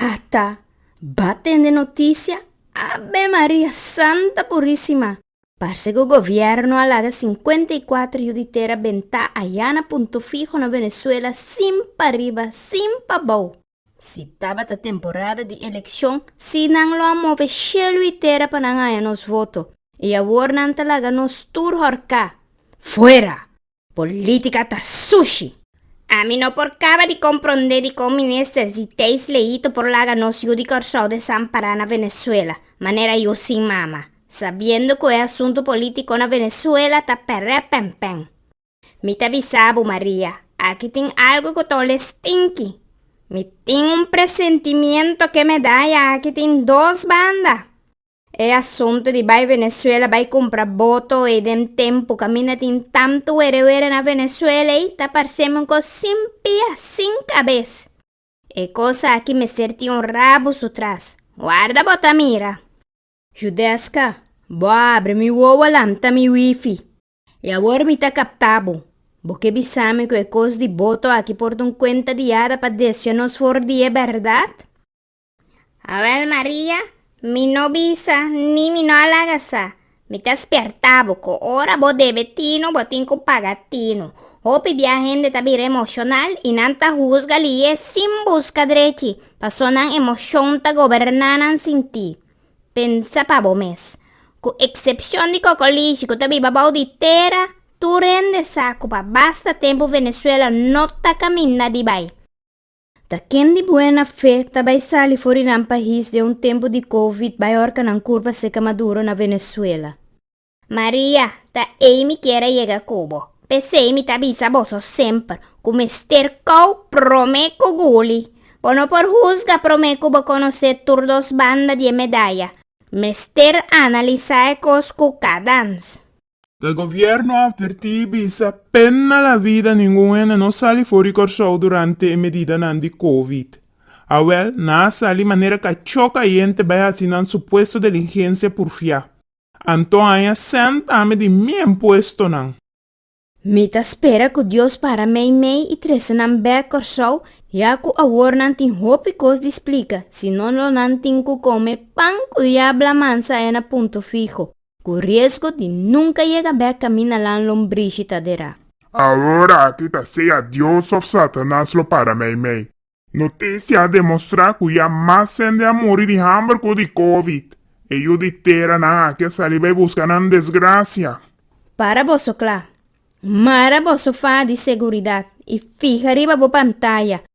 Ata ba tende noticia? Ave Maria Santa Purisima! Parse cu gobierno a laga cincuenta y cuatro yu di tera benta aya na Punto Fiho na Venezuela sin pariba sin pabao. Si tabata temporada di eleccion si nan lo a move cielo y tera pa nan haya nos voto y awor nan ta laga nos tur horca. Fuera! Politica ta sushi! Ami no por caba di compronde dicon Minister Ziteis Leito por laga nos yu di Corsou desampará na Venezuela, manera yu sin mama, sabiendo cu e asunto politico na Venezuela ta peré penpen. Mi ta bisa bo Maria, aki tin algo cu ta ole stinky. Mi tin un presentimiento ke me da ya aki tin dos banda. E asuntu di bai Venezuela bai cumpra boto ei den tempu caminda tin tantu were were na Venezuela ei ta parcemi un cos sin pia sin cabes. E cosa aki mester tin un rabu su tras. Warda bo ta mira. Judesca, bo a abri mi wowo lanta mi wifi. I awor mi ta capta bo. Bo ke bisami cu e cos di boto aki por dun cuenta di yada pa descha nos for di e berdad? Awel Maria, mi no bisa ni mi no a laga sa. Mi ta sperta bo cu ora bo debe tinu, bo tin cu paga tinu. Hopi bia hende ta bira emocional y nan ta huzga liye sin busca drechi, paso nan emocion ta goberna nan sinti. Pensa pa bo mes. Cu excepcion di cocolishi cu ta biba bao di tera, tur hende sa cu pa basta tempu Venezuela no ta caminda di bay. Ta ken di buena fe ta bai sali for di nan pahis den un tempu di covid bai orka nan kurpa seka maduro na Venezuela? Maria, Ta ei mi kier a yega ku bo. P'esei mi ta bisa boso semper ku mester kou promé ku guli. Bo no por husga promé ku bo konosé tur dos banda di e medaya. Mester analisá e kos ku kadans. E gobierno a advertí i bisa, Pena la vida, ningun hende no sali for di Kòrsou durante e medidanan di covid. Awèl, nan a sali manera kachó kayente bai hasi nan supuesto diligensia purfiá. Anto haña sènta ami di mi en puestonan. Mi ta spera ku Dios para meimei i trese nan bèk Kòrsou, ya ku awor nan tin hopi kos di splika, si no lo nan tin ku kome pan ku diabla mansa e na punto fiho. Ku riesgo di nunka yega bèk kaminda lan lombrishi ta derá. Awor aki ta sea Dios òf Satanas lo para meimei. Notisia a demostrá ku ya mas hende a muri di hamber ku di covid. E yu di tera nan aki a sali bai buska nan desgrasia. Para boso kla. Mara boso fa di seguridat i fiha riba bo pantaya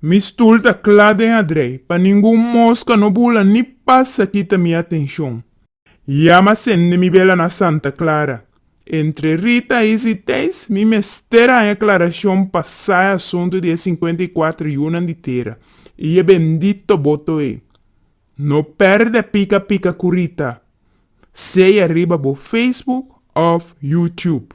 Mi stul ta kla den adrei pa ningun moska no bula ni pasa kita mi atenshon. Yama sende mi bela na Santa Clara. Entre Rita, Isa i Teis mi mester haña klarashon pa sa e asuntu di e sinkuenta i kuater yunan di tera i e bendito boto ei. No pèrdè pika pika ku Rita, sea riba bo Facebook òf YouTube.